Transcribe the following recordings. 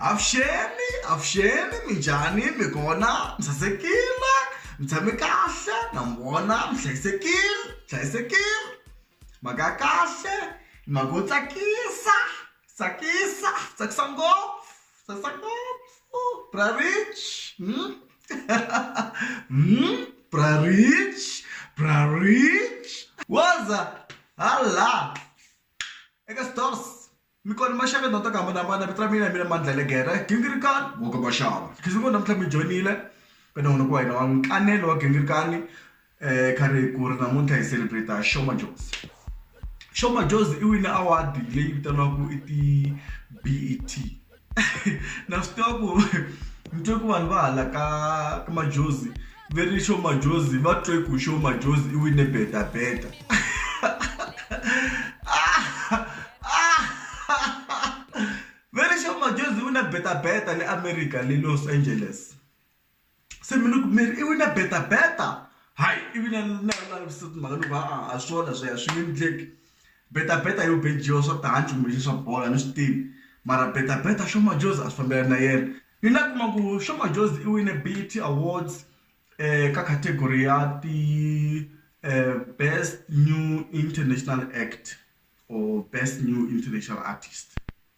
avuxeni avuxeni minjhani mi kona mi sasekile mi tshame kahle na mi vona mi hlayisekile hlayisekile mhaka ya kahle mhaka yo tsakisa tsakisa tsakisa ngopfu tsakisa ngopfu bra rich bra rich bra rich woza hala eka stores Mi kona maxaka tindhawu ta ku hambanahambana vito ra mina hi mina Mandla Legere Gingirikani wa ka Maxava khizi ngo namuntlha mi joyinile ka nongonoko wa hina wa nkanelo wa Gingirikani kha ri ku ri namuntlha hi celebrate Sho Madjozi Sho Madjozi i wine award leyi vitaniwaku i ti-B_E_T na swi tiva ku ni twe ku vanhu va hala ka ka Madjozi. Va ri Sho Madjozi va twe ku Sho Madjozi i wine Beta Beta. Va ri Sho Madjozi i wine Beta Beta le America le Los Angeles. Se mi ni ku mi ri i wine Beta Beta? Hayi i vina na na mhaka ni ku ha-a a swona sweswo a swi nge endleki. Beta beta yo bejiwa swa tihanci kumbe xi swa bolo a ni swi tivi mara beta beta Sho Madjozi a swi fambelani na yena ni la kuma ku Sho Madjozi i wine BET awards ka category ya ti best new international act or best new international artist.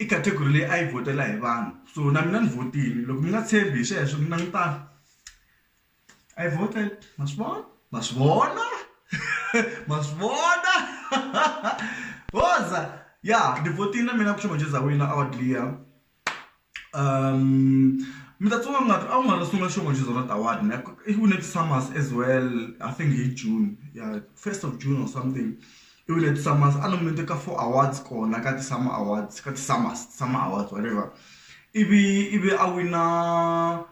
I category leyi a yi vhotela hi vanhu so na mina ni vhotile loko mi nga tshembi hi sweswo mi langutana I voted ma swi vona ma swi vona ma swi vona woza ya ni vhotile na mina ku Shembe Ndlozi a wina award liya mi ta tsundzuka ngaku a ku nga ri sungula Shembe Ndlozi a wina award ne i wine ti-SAMAs as well I think hi June ya first of June or something I vile The Sa Mast a nominate ka four awards kona ka ti-SAMA awards ka ti-Sa Mast SAMA awards whatever ivi ivi a wina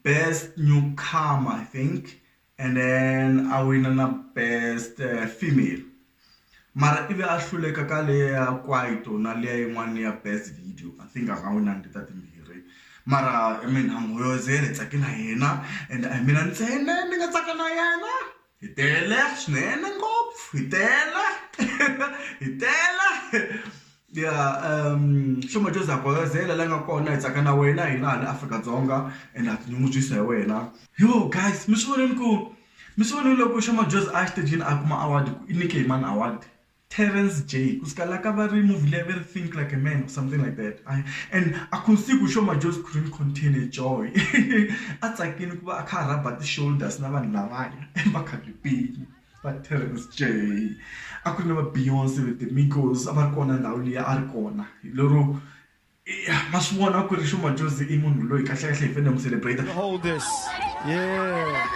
best newcomer I think and then a wina na best female mara ivi a hluleka ka leya ya Kwaito na liya yin'wana ya best video I think a nga winangi ta timbirhi mara I mean hi tsake na yena and a hi mina ntsena ni nga tsaka na yena. Hi tele swinene ngopfu hi tele hi tele ya xo ma Joseph Gwayizela la nga kona hi tsaka na wena hina hala Afrika-Dzonga ende ha tinyungubyisa hi wena yooh guys mi swi vonile ku mi swi vonile loko xo majozi a ya exitejini a kuma award ku i nike hi mani award Terrence J ku suka la ka va ri movie leyi a va ri think like a man or something like that I and a ku si ku Showmax just couldn't contain her joy a tsakile ku va a kha a rhaba ti shoulders na vanhu lavaya emakhalipeni va Terrence J a ku ri na va Beyonce with the Migos a va ri kona ndhawu liya a ri kona hi lero ya ma swi vona ku ri xuma jozi i munhu loyi kahlekahle hi fanele mu celebrate hold this yeah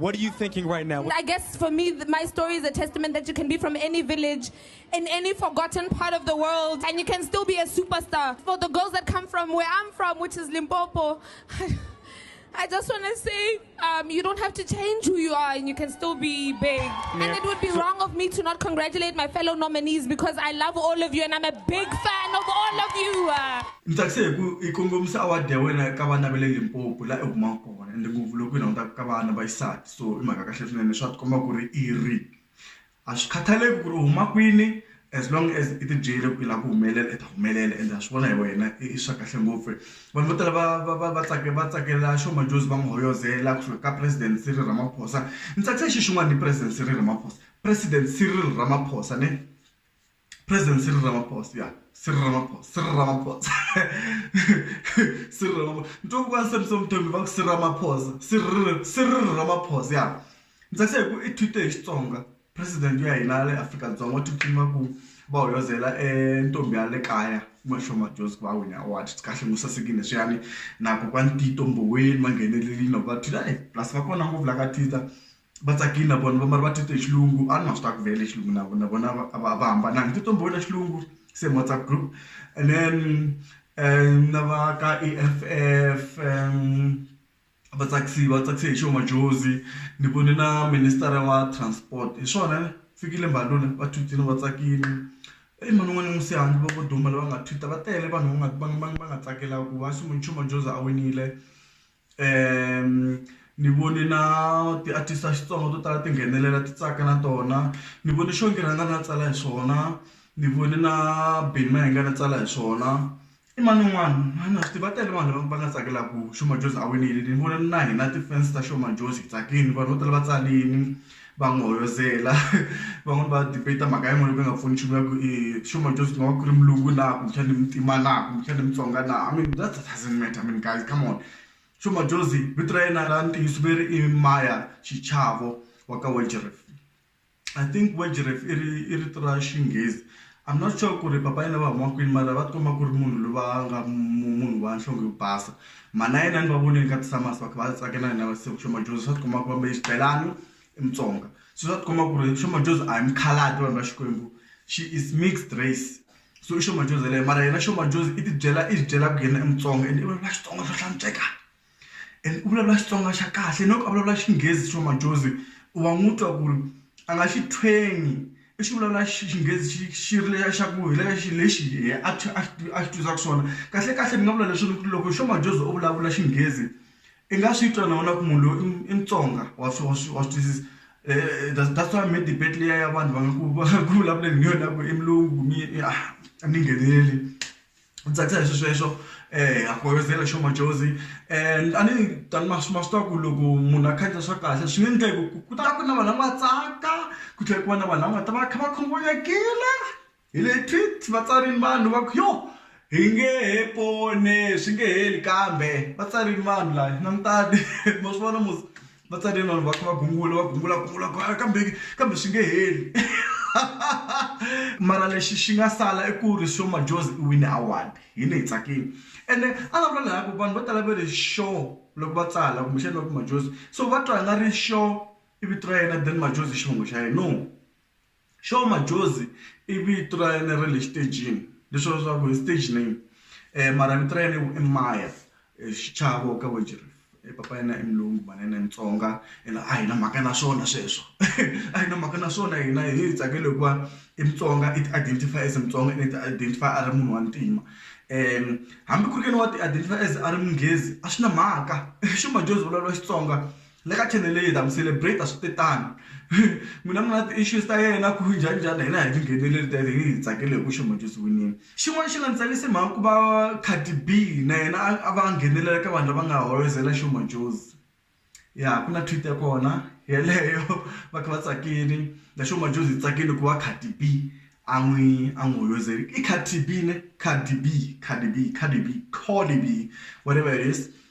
What are you thinking right now? I guess for me, my story is a testament that you can be from any village, in any forgotten part of the world, and you can still be a superstar. For the girls that come from where I'm from, which is Limpopo, I just want to say um, you don't have to change who you are and you can still be big. Yeah. And it would be so wrong of me to not congratulate my fellow nominees because I love all of you and I'm a big fan of all of you. Uh. mtsakise hi ku i kongomisa award ya wena ka vana va le limpopo laha i humaka kona ende ngopfu loko yi langutaka ka vana va xisati so i mhaka kahle swinene swa tikomba ku ri i ri A swi khathaleki ku ri u huma kwini as long as i tibyele ku i lava ku humelela i ta humelela ende ha swi vona hi wena i swa kahle ngopfu vanhu vo tala va va va va tsaka va tsakela xo madjozi va n'wi hoyozela ku suka ka president Cyril Ramaphosa ni tsakisa xi xin'wana hi president Cyril Ramaphosa president Cyril Ramaphosa ne. President Cyril Ramaphosa ya Cyril Ramaphosa Cyril Ramaphosa Cyril Ramaphosa nto kwa se so mthombi va ku Cyril Ramaphosa Cyril Cyril Ramaphosa ya ndzi se ku i tweet hi Xitsonga president ya hina le Afrika-Dzonga u tiphina ku va hoyozela e ntombi ya le kaya Mashwa Madjozi ku va wine award swi kahle mu sasekile swiyani na kokwani Tito Mboweni va nghenelelini na ku va Twitter plus va kona ngopfu la ka Twitter. va tsakile na vona va mara va titwa hi xilungu a ni nga swi ta ku vele xilungu na vona na vona a va a va hambananga titwa ni vona xilungu same WhatsApp group and then na va ka E_F_F va tsakisiwa va tsakise hi xo Madjozi ni vone na minister-a wa transport hi swona Fikile Mbalula va thutile va tsakile i mhani wun'wana ni Musiyani va vo duma lava nga thutha va tele vanhu va nga va nga va nga tsakela ku va xi munchumu Madjozi a winile. ni vone na ti-artist ta Xitsonga to tala ti nghenelela ti tsaka na tona ni vone xo ngi rhanga ni ya tsala hi swona ni vone na Benny Mayengani a tsala hi swona i mani un'wani a ni swi tivi va tele vanhu lava va nga tsakelaku Sho Madjozi a winile ni vona na hina ti-fans ta Sho Madjozi hi tsakini vanhu vo tala va tsarini. va n'wi hoyozela van'wani va debate mhaka yin'wani yo ka yi nga pfuni nchumu va ku i xo ma Joseph ma va ku ri mulungu na kumbexani i muntima na kumbexani i mutsonga na I mean that doesn't matter I mean guys come on xo ma Jozi vito ra yena ra ntiyiso ve ri i Maya Xichavo wa ka Weltevrede I think Weltevrede i ri i rito ra xinghezi I'm not sure ku ri papa yena va huma kwini mara va ti komba ku ri munhu loyi va nga munhu wa nhlonge yo basa mhana yena ni va vonile ka ti-summers va kha va tsaka na hina va se xo majozi swa ti komba ku va mbale xibelani i mutsonga se swa ti komba ku ri xo majozi a hi mukhalabye vanhu va xikwembu she is mixed race so i xo majozi yeleyo mara yena xo majozi i ti byela i byela ku yena i mutsonga ende i vanhu va xitsonga swo hlantsweka. and u vulavula Xitsonga xa kahle no ku a vulavula Xinghezi xo majozi u wa n'wi twa ku ri a nga xi tshwenyi i xi vulavula Xinghezi xi xi ri lexiya xa ku hi le ka xilo lexi yena a xi a xi twisaka xiswona kahle kahle ni nga vula leswi loko loko xo majozi u vulavula Xinghezi i nga swi twa na wena ku munhu loyi i Mutsonga wa swi wa swi wa swi twisisa that's why me debate liya ya vanhu va nga ku va ku vulavuleni hi yona ku i mulungu ku mi a ni ngheneleli. u tsakisa hi swi sweswo ha khongozela hi xo majozi and a ni ta ni ma swi ma swi tiva ku loko munhu a khandziya swa kahle swi nge endleki ku ku ku ta ku na vanhu lava nga tsaka ku tlhela ku va na vanhu lava nga ta va kha va khunguvanyekile hi le tweet va tsarile vanhu va ku yo hi nge he pone swi nge heli kambe va tsarile vanhu lava langutani ma swi vona mos. va tsarile vanhu va kha va gungula va gungula gungula gungula kambe kambe swi nge heli mara lexi xi nga sala i ku ri sho Madjozi i wine award hina hi tsakile ene a la vula laha ku vanhu vo tala va ri sho loko va tsala kumbexana va ku Madjozi so va twa nga ri sho i vito ra yena then Madjozi i xivongo xa yena no. Xo Majozi i vito ra yena ra le xitejini leswi vula leswaku i stage name mara vito ra yena i Maya xichava wa ka Wagerup i papa ya yena i mulungu mhana yena i mutsonga ene a hi na mhaka na swona sweswo a hi na mhaka na swona hina hi hi tsakela hikuva i mutsonga i ti identify as mutsonga ene i ti identify a ri munhu wa ntima hambi ku ri ke ni wa ti identify as a ri munghezi a swi na mhaka xo Majozi vulavula Xitsonga le ka channel leyi hi ta mi celebrate switetani n'wina mi nga na ti-issues ta yena ku njhani njhani hina hi tingheneleli ta yena hi hi tsakele hi ku xi winile xin'wana xi nga ni tsakisi mhaka ku va Cardi B na yena a va nghenelela ka vanhu lava nga hoyozela xi ya ku na tweet ya kona yeleyo va kha va tsakile na xi hi tsakile ku va Cardi B a n'wi a n'wi hoyozeli i Cardi B ne Cardi B Cardi B Cardi B Cardi B whatever it is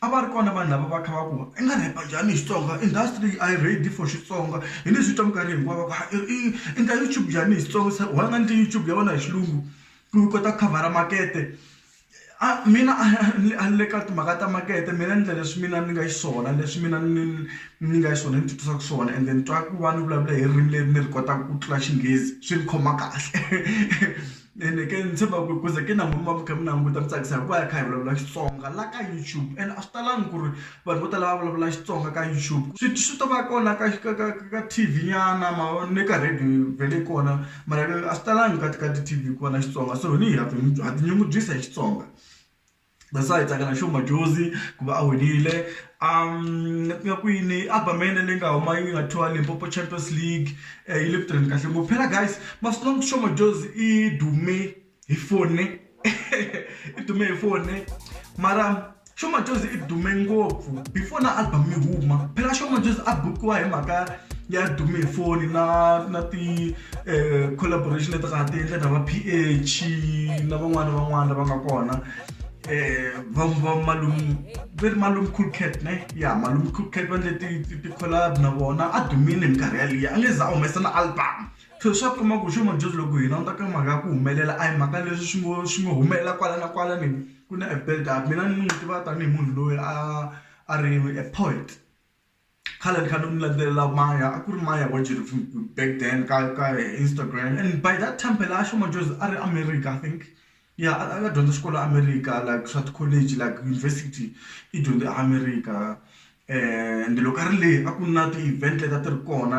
a va ri kona vanhu lava va kha va ku i nga rap-a njhani hi Xitsonga industry a yi ready for Xitsonga hi leswi swi twa minkarhi hinkwawo va ku i endla YouTube njhani hi Xitsonga se why u nga endli YouTube ya wena hi xilungu ku u kota ku khavhara makete a mina a a ni le ka timhaka ta makete mina ni endla leswi mina ni nga xiswona leswi mina ni ni nga xiswona ni titwisaka swona ende ni twa ku va ni vulavula hi ririmi leri ni ri kotaka ku tlula Xinghezi swi ni khoma kahle. Ene ke ni tshemba ku ku ze ke na n'wina mi va mi kha mi languta mi tsakisa hikuva hi kha hi vulavula Xitsonga la ka YouTube ene a swi talangi ku ri vanhu vo tala va vulavula Xitsonga ka YouTube swi swi to va kona ka ka ka ka T_V nyana ma vo ni ka radio yi vhele yi kona mara a swi talangi ka ka ti-T_V ku va na Xitsonga so hi ni ha ha tinyungubyisa hi Xitsonga. that's why hi tsaka na xo majozi ku va a winile um nga kwini album ya yena leyi nga huma yi nga thiwa limpopo champions league um yi le ku tirheni kahle ngopfu phela guys masiku lama xo majozi i dume hi fone i dume hi fone mara xo majozi i dume ngopfu before na album yi huma phela xo majozi a bukiwa hi mhaka ya dume hi foni na na ti um collaboration leti nga ha ti endla na va ph na van'wana na van'wana lava nga kona um va malum ve ri malum cool cat ne ya malum cool cat va ndle ti-collab na vona a dumile hi minkarhi yaliya a nge za a humesa na album so swa kuma ku xo madyondzi loko hi languta ka mhaka ya ku humelela a hi mhaka leswi swi ngo swi ngo humelela kwala na kwala ni ku na a build up mina ni n'wi tiva tanihi munhu loyi a a ri a poet. khale ni kha ni n'wi landzelela maya a ku ri maya wa back then ka ka instagram and by that time phela a shuma just a ri america i think ya a nga dyondza xikolo america like swa ti-college like university i dyondze america and loko a ri le a ku na ti-event leti a ti ri kona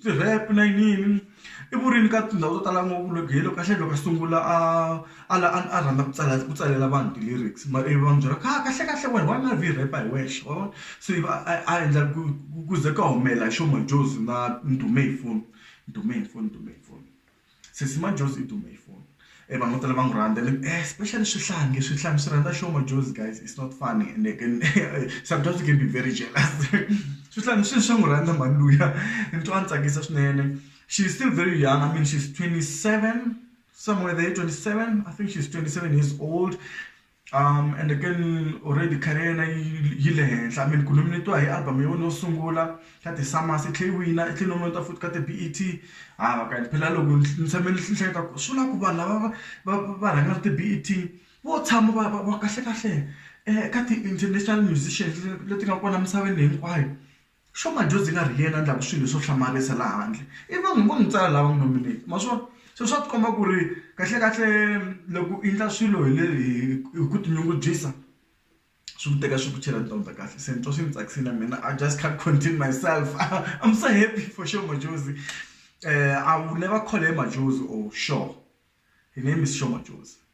Ti-rap na yiniyini i vurini ka tindhawu to tala ngopfu loko hi loko kahlekahle loko a sungula a a la a a rhandza ku tsala ku tsalela vanhu ti-lyrics ma ivi va n'wi byela ku ha kahlekahle wena why u nga vi hi rhepa hi wexe wa vona se ivi a a endla ku ku ze ku ya humelela hi xo Majozi na Ndhume hi foni Ndhume hi foni Ndhume hi foni. Sesi Majozi i dume hi foni e vanhu vo tala va n'wi rhandza and especially swihlangi swihlangi swi rhandza show Majozi guys it's not funny and they can sometimes you can be very jealous swihlangi swi swa n'wi rhandza mhani luya ni twa a ni tsakisa swinene she is still very young I mean she's twenty seven somewhere there twenty seven I think she's twenty seven years old Ende ke ni already career ya yena yi yi le henhla I mean ku nominate-iwa hi album ya wena yo sungula ka ti-SAMAs i tlhela i wina i tlhela i nominate-iwa futhi ka ti-B_E_T ha va ka phela loko ni tshame ni hleketa ku swi vulaka ku vanhu lava va va va va rhangaka ti-B_E_T vo tshama va va va kahlekahle ka ti-international musicians leti nga kona emisaveni hinkwayo. Swa Madjozi nga ri yena a ndlaku swilo swo hlamarisa la handle i vanhu vo n'wi tsala lava n'wi nominate ma swona se swa tikomba ku ri kahle kahle loko i ndla swilo hi le hi ku tinyungubyisa swi ku teka swi ku chela tindhawu ta kahle se ni twa swi ni tsakise na mina I just can't contain myself I'm so happy for sure Madjozi I will never call her Madjozi or Sho her name is Sho Madjozi.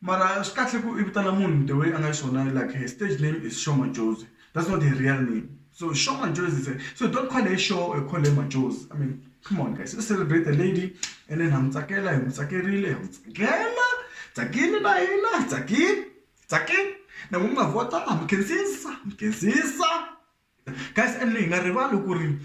Mara swi kahle ku i vitana munhu the way a nga xiswona like her stage name is Sho Madjozi that's not her real name so Sho Madjozi is a so don't call her Sho or call her Madjozi I mean come on guys let's celebrate the lady and then ha n'wi tsakela hi n'wi tsakerile ha n'wi tsakela tsakile na hina hi tsakile tsakile na n'wina mi nga vhota ha mi khensisa ha mi khensisa. Guys and hi nga rivali ku ri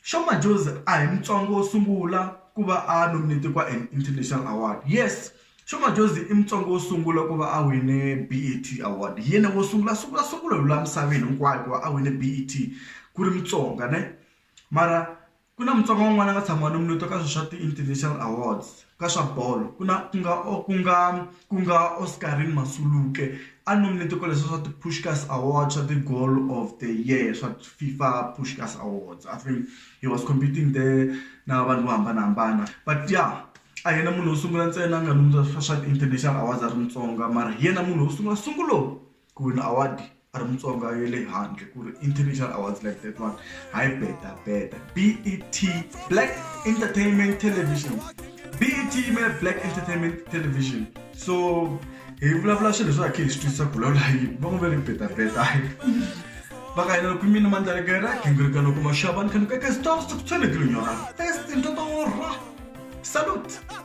Sho Madjozi a hi Mutsonga wo sungula ku va a nominate-iwa an international award yes Sho Madjozi i Mutsonga wo sungula ku va a wine BET award hi yena wo sungula sungula sungula hi laha misaveni hinkwayo ku va a wine BET ku ri Mutsonga ne mara Ku na Mutsonga un'wana a nga tshama a nominate-iwa ka swilo swa ti-international awards ka swa bolo ku na ku nga ku nga ku nga Oscarine Masuluke a nominate-iwe ka leswiya swa ti-Puskas awards swa ti-goal of the year swa FIFA Puskas awards I think he was competing there na vanhu vo hambanahambana but ya a hi yena munhu wo sungula ntsena a nga nominate-iwa ka swa ti-international awards a ri Mutsonga mara hi yena munhu wo sungula sungulo. ku wina award a ri mutsonga ya le handle ku ri international awards like that one hayi beta beta bet black entertainment television bet yimela black entertainment television so hi vulavula swilo swa khe hi swi twisisa ku lawula yini va n'wi ve ri beta beta va ka yena loko mina mandlalekera gingirika loko maxava ni kha ni kaka stop stop tshwelekile nyora first ntoto wo rha salute